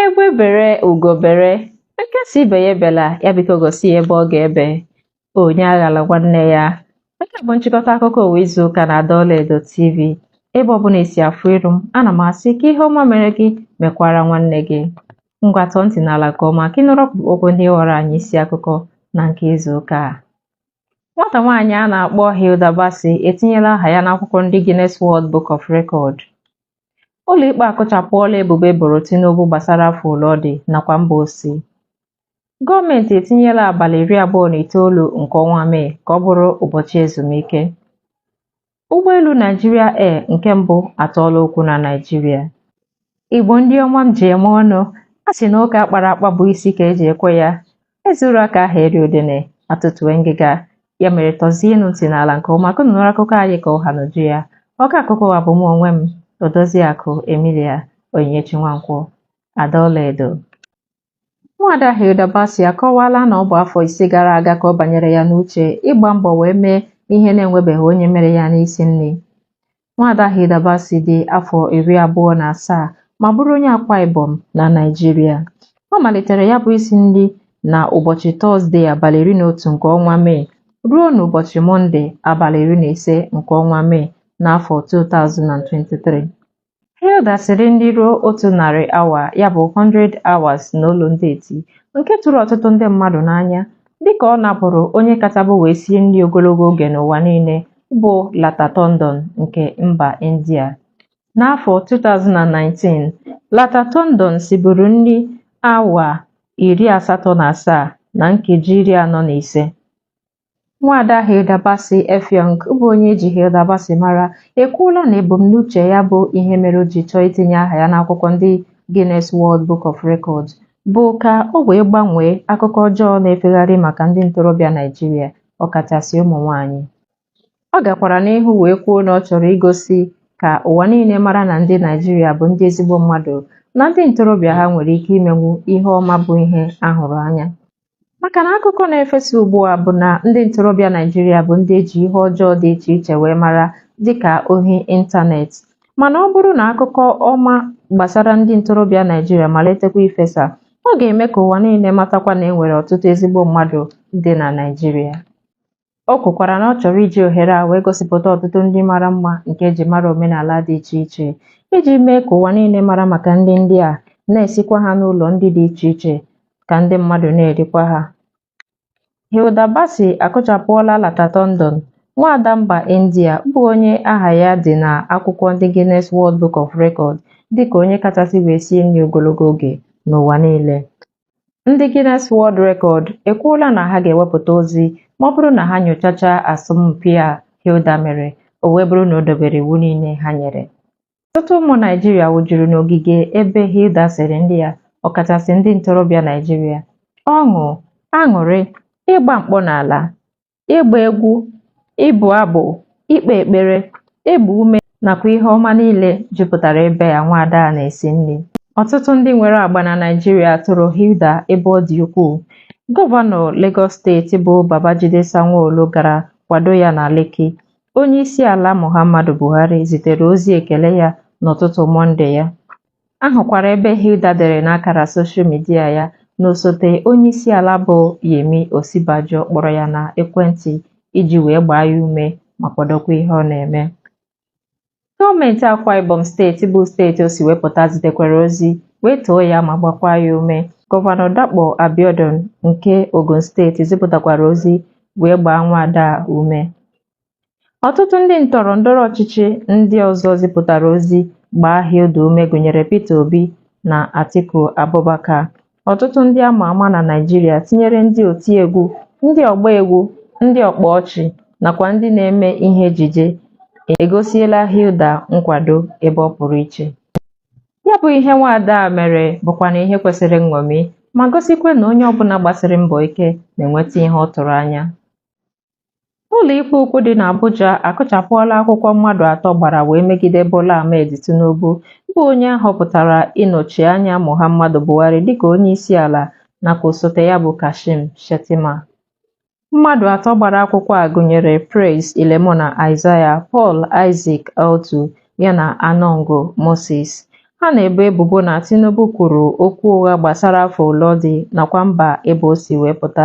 Egbe bere ugo bere, nke si ibe ya ebela, ya biko gosi ya ebe ọ ga-ebe. Onye aghala nwanne ya. Nke a bụ nchịkọta akụkọ ụwa izu ụka na Ada Ọlaedo TV. Ebe ọbụla esi afụ iru m, ana m asị ka ihe ọma mere gị mekwara nwanne gị. Ngwa tọọ ntị n'ala nke ọma ka ị nụrụ ọkpụrụkpụ okwu ndị ghọrọ anyị isi akụkọ na nke izu ụka a. Nwata nwaanyị a na-akpọ Hilda Baci etinyela aha ya n'akwụkwọ ndị Guinness World Book of Record. Ụlọikpe akụchapụọla ebubo e boro Tinubu gbasara afọ ole ọ dị nakwa mba o si. Gọọmenti etinyela abalị iri abụọ na itoolu nke ọnwa Mee ka ọ bụrụ ụbọchị ezumike. Ụgbọelu Nigeria Air nke mbụ atọọla ụkwụ na Naịjirịa. Igbo ndị ọma m ji eme ọnụ, a sị na ụka akpara akpa bụ isi ka eji ekwe ya. Ezuru ka aha eri udene atọtuwe ngịga ya mere tọzienụ ntị n'ala nke ọma ka unu nụrụ akụkọ anyị ka ọ ha n'uju ya ọka akụkọ ụwa bụ mụ onwe m Odoziakụ Emilia Onyinyechi Nwankwọ Ada Ọlaedo Nwaada Hilda Baci akọwaala na ọ bụ afọ ise gara aga ka ọ banyere ya n'uche ịgba mbọ wee mee ihe na-enwebeghị onye mere ya n'isi nri Nwaada Hilda Baci dị afọ iri abụọ na asaa ma bụrụ onye Akwa Ibom na Naịjirịa. Ọ malitere ya bụ isi nri na ụbọchị Tọzde abalị iri na otu nke ọnwa Mee ruo n'ụbọchị Mọnde abalị iri na ise nke ọnwa Mee n'afọ 2023. Hilda siri nri ruo otu narị awa ya bụ 100 hours n'olu ndị eti nke tụrụ ọtụtụ ndị mmadụ n'anya dịka ọ napụrụ onye kachabu wee sie nri ogologo oge n'ụwa niile bụ Lata Tondon nke mba India. N'afọ 2019, Lata Tondon siburu nri awa iri asatọ na asaa na nkeji iri anọ na ise. Nwaada Hilda Bassey Effiong bụ onye eji Hilda Baci mara ekwuola na ebumnuche ya bụ ihe mere o ji chọọ itinye aha ya n'akwụkwọ ndị Guinness World Book of Records bụ ka o wee gbanwee akụkọ ọjọọ na-efegharị maka ndị ntorobịa Naịjirịa ọkachasị ụmụ nwanyị. Ọ gakwara n'ihu wee kwuo na ọ chọrọ igosi ka ụwa niile mara na ndị Naịjirịa bụ ndị ezigbo mmadụ na ndị ntorobịa ha nwere ike imenwu ihe ọma bụ ihe a hụrụ anya. Maka na akụkọ na-efesa ugbu a bụ na ndị ntorobịa Naịjirịa bụ ndị eji ihe ọjọọ dị iche iche wee mara dịka ohi ịntanetị. Mana ọ bụrụ na akụkọ ọma gbasara ndị ntorobịa Naịjirịa malitekwa ifesa, Ọ ga-eme ka ụwa niile matakwa na e nwere ọtụtụ ezigbo mmadụ dị na Naịjirịa. O kwukwara na ọ chọrọ iji ohere a wee gosipụta ọtụtụ nri mara mma nke eji mara omenala dị iche iche iji mee ka ụwa niile mara maka nri ndị a na-esikwa ha n'ụlọ nri dị iche iche ka ndị mmadụ na-erikwa ha. Hilda Baci akụchapụọla Lata Tondon, nwaada mba India bụ onye aha ya dị na akwụkwọ ndị Guinness World Book of Record dịka onye kachasị wee sie nri ogologo oge n'ụwa niile. Ndị Guinness World Record ekwuola na ha ga-ewepụta ozi ma ọ bụrụ na ha nyochachaa asọmpi a Hilda mere, o wee bụrụ na o dobere iwu niile ha nyere. Ọtụtụ ụmụ Naịjirịa wụjuru n'ogige ebe Hilda siri nri ya, ọkachasị ndị ntorobịa Naịjirịa, ọṅụ, aṅụrị, ịgba mkpọ n'ala, ịgba egwu, ịbụ abụ, ikpe ekpere, ịgba ume nakwa ihe ọma niile jupụtara ebe a nwaada a na-esi nri. Ọtụtụ ndị nwere agba na Naịjirịa toro Hilda ebe ọ dị ukwuu. Gọvanọ Lagos steeti bụ Babajide Sanwo-Olu gara kwado ya na Lekki. Onye isi ala Muhammadu Buhari zitere ozi ekele ya n'ụtụtụ Mọnde ya. A hụkwara ebe Hilda dere n'akara soshal midia ya na osote onye isi ala bụ Yemi Osinbajo kpọrọ ya na ekwentị iji wee gbaa ya ume ma kwadokwa ihe ọ na-eme. Gọọmenti Akwa Ibom steeti bụ steeti o si wee pụta zitekwara ozi wee too ya ma gbakwa ya ume. Gọvanọ Dapo Abiodun nke Ogun steeti zipụtakwara ozi wee gbaa nwaada a ume. Ọtụtụ ndị ndọrọ ndọrọ ọchịchị ndị ọzọ zipụtara ozi gbaa Hilda ume gụnyere Peter Obi na Atiku Abubakar. Ọtụtụ ndị a ma ama na Naịjirịa tinyere ndị otiegwu, ndị ọgba egwu, ndị ọkpa ọchị nakwa ndị na-eme ihe ejije egosiela Hilda nkwado ebe ọ pụrụ iche. Ya bụ ihe nwaada a mere bụkwanụ ihe kwesịrị nṅomi ma gosikwa na onye ọbụla gbasiri mbọ ike na-enweta ihe ọ tụrụ anya. Ụlọikpe ukwu dị n'Abuja akụchapụọla akwụkwọ mmadụ atọ gbara wee megide Bola Ahmed Tinubu bụ onye a họpụtara ịnọchi anya Muhammadu Buhari dịka onyeisiala nakwa osote ya bụ Kashim Shettima. Mmadụ atọ gbara akwụkwọ a gụnyere Praise Ilemona Isaiah, Paul Isaac Audu yana Anongo Moses. Ha na-ebo ebubo na Tinubu kwuru okwu ụgha gbasara afọ ole ọ dị nakwa mba ebe o si wee pụta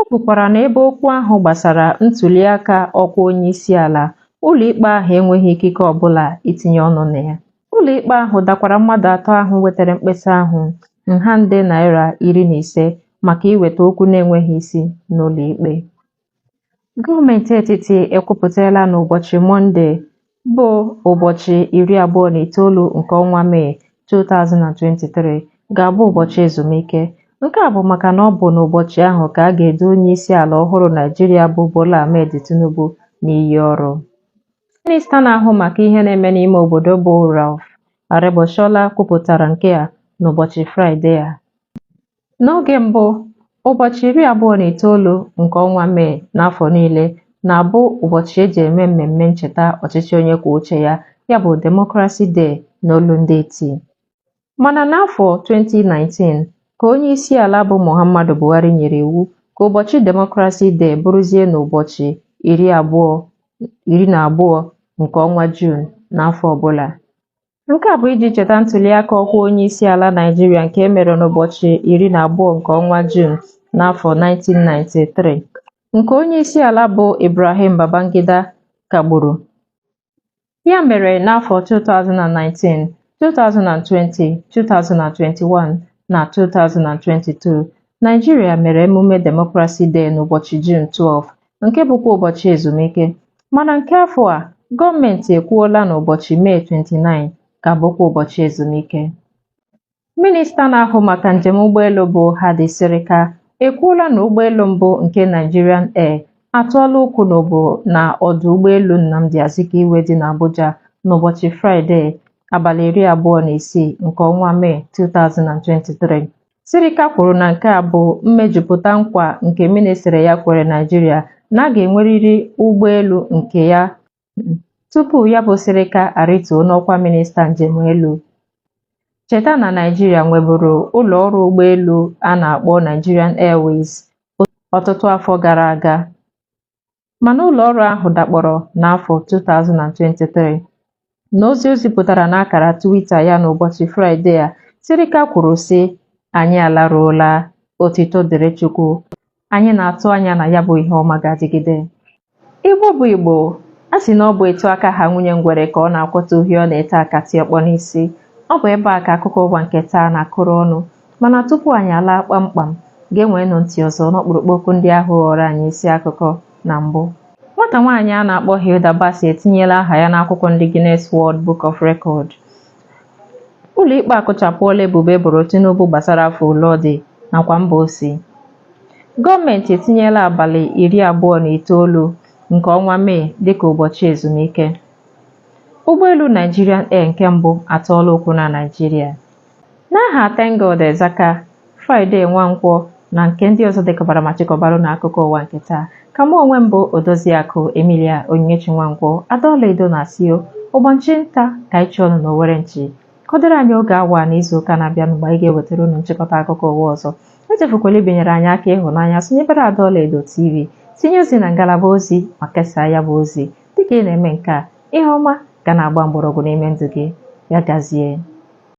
O kwukwara na ebe okwu ahụ gbasara ntuliaka ọkwa onyeisiala, ụlọikpe ahụ enweghị ikike ọbụla itinye ọnụ na ya. Ụlọikpe ahụ dakwara mmadụ atọ ahụ wetara mkpesa ahụ nha nde naịra iri na ise maka iweta okwu na-enweghị isi n'ụlọikpe. Gọọmenti etiti ekwupụtala na ụbọchị Mọnde bụ ụbọchị iri abụọ na itoolu nke ọnwa Mee 2023 ga-abụ ụbọchị ezumike. Nke a bụ maka na ọ bụ n'ụbọchị ahụ ka a ga-edu onye isi ala ọhụrụ Naịjirịa bụ Bola Ahmed Tinubu n'iyi ọrụ. Minista na-ahụ maka ihe na-eme n'ime obodo bụ Rauf Aregbesola kwupụtara nke a n'ụbọchị Fraịde a. N'oge mbụ, ụbọchị iri abụọ na itoolu nke ọnwa Mee n'afọ niile na-abụ ụbọchị e ji eme mmemme ncheta ọchịchị onye kwuo uche ya, ya bụ Democracy Day n'olu ndị iti. Mana n'afọ 2019, ka onye isi ala bụ Muhammadu Buhari nyere iwu ka ụbọchị Democracy Day bụrụzie n'ụbọchị iri abụọ iri na abụọ nke ọnwa Juun n'afọ ọbụla. Nke a bụ iji cheta ntuliaka ọkwa onyeisiala Naịjirịa nke e mere n'ụbọchị iri na abụọ nke ọnwa Juun n'afọ 1993 nke onyeisiala bụ Ibrahim Babangida kagburu. Ya mere n'afọ 2019, 2020, 2021 na 2022, Naịjirịa mere emume Democracy Day n'ụbọchị Juun 12 nke bụkwa ụbọchị ezumike mana nke afọ a gọọmenti ekwuola na ụbọchị Mee 29 ka bụkwa ụbọchị ezumike minista na-ahụ maka njem ụgbọelu bụ Hadi Sirika ekwuola na ụgbọelu mbụ nke Nigerian Air atụọla ụkwụ n'obo na ọdụ ụgbọelu Nnamdi Azikiwe dị n'Abuja n'ụbọchị Fraịde abalị iri abụọ na isii nke ọnwa Mee 2023 Sirika kwuru na nke a bụ mmejupụta nkwa nke ministri ya kwere Naịjirịa na a ga-enwerịrị ụgbọelu nke ya tupu ya bụ Sirika arịtuo n'ọkwa minista njem elu. Cheta na Naịjirịa nweburu ụlọ ọrụ ụgbọelu a na-akpọ Nigerian Airways ọtụtụ afọ gara aga. mana ụlọ ọrụ ahụ dakpọrọ n'afọ 2023. N'ozi o zipụtara n'akara Twitter ya n'ụbọchị Fraịde a, Sirika kwuru sị, Anyị alaruola, otito dịrị Chukwu. Anyị na-atụ anya na ya bụ ihe ọma ga-adịgide. Igbo bụ Igbo, a sị na ọ bụ etu aka ha nwunye ngwere ka ọ na-akwọta uhie ọ na-ete akatị ọkpọ n'isi. Ọ bụ ebe a ka akụkọ ụwa nke taa na-akụrụ ọnụ. Mana tupu anyị alaa kpamkpam, geenweenụ ntị ọzọ n'ọkpụrụkpụ okwu ndị ahụ ghọrọ anyị isi akụkọ na mbụ. Nwata nwaanyị a na-akpọ Hilda Baci etinyela aha ya n'akwụkwọ ndị Guinness World Book of Record. Ụlọikpe akụchapụọla ebubo e boro Tinubu gbasara afọ ole ọ dị nakwa mba o si. Gọọmenti etinyela abalị iri abụọ na itoolu nke ọnwa Mee dịka ụbọchị ezumike. Ụgbọelu Nigerian Air nke mbụ atọọla ụkwụ na Naịjirịa. N'aha Tengod Ezaka, Friday Nwankwo na nke ndị ọzọ dekọbara ma chịkọbara unu akụkọ ụwa nke taa ka mụ onwe m bụ Odoziakụ Emilia Onyinyechi Nwankwo Ada Ọlaedo na-asị ụbọchị nta ka anyị chụọnụ n'owere nchi ka ọ dịrị anyị oge awa n'izu ụka na-abịa mgbe anyị ga-ewetara unu nchịkọta akụkọ ụwa ọzọ echefukwala ibinyere anyị aka ịhụnanya sonyebere Ada Ọlaedo TV tinye ozi na ngalaba ozi ma kesaa ya bụ ozi dịka ị na-eme nke a ihe ọma ga na-agba mgbọrọgwụ n'ime ndụ gị ya gazie